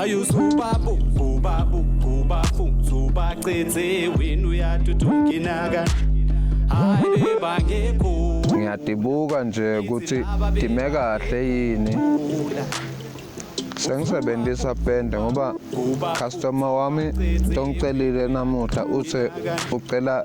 Ayu subabu ubabu ubabu subacithe wena uyatutunginaga hayi bangekho ngiyadibuka nje ukuthi dime kahle yini sengisebenzisa pende ngoba customer wami tongicelile namuhla uthe ucela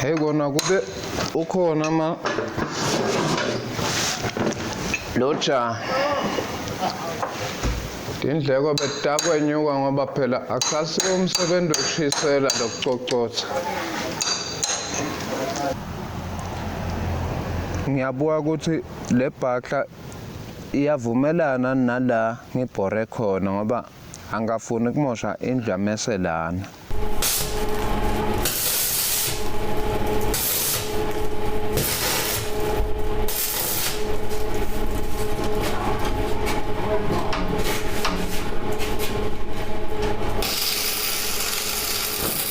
Hey kona kube ukhona ma loja indleko betakwenyuka ngoba phela akusasiwo umsebenzi wokushisela lokucocotha ngiyabuka ukuthi le bhakla iyavumelana nala ngibhore khona ngoba angikafuni kumosha indlu yamese lana Thank you.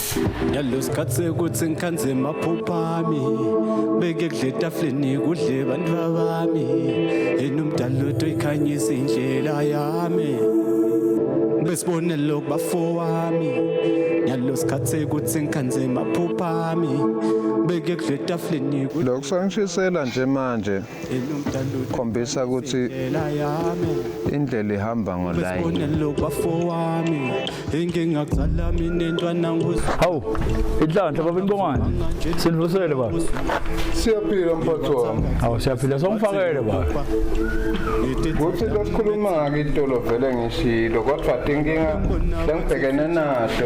ngalesikhathi sekuthi ngikhanze maphupha ami beke kudla etafuleni kudle bantu babami yena umdala lodwa ikhanyisa indlela yami besibonelo kubafowami ngalo sikhathi sekuthi ngikhanze maphupha ami beke kudla etafuleni lokho sangishisela nje manje khombisa ukuthi indlela ihamba ngolayinilobafowami engingakuzala mina entwana hawu inhlanhla baba inibongane sinivusele baba siyaphila mphathi wami hawu siyaphila songifakele baba kuthi losikhuluma-ke itolo vele ngishilo kodwa tinkinga lengibhekene naso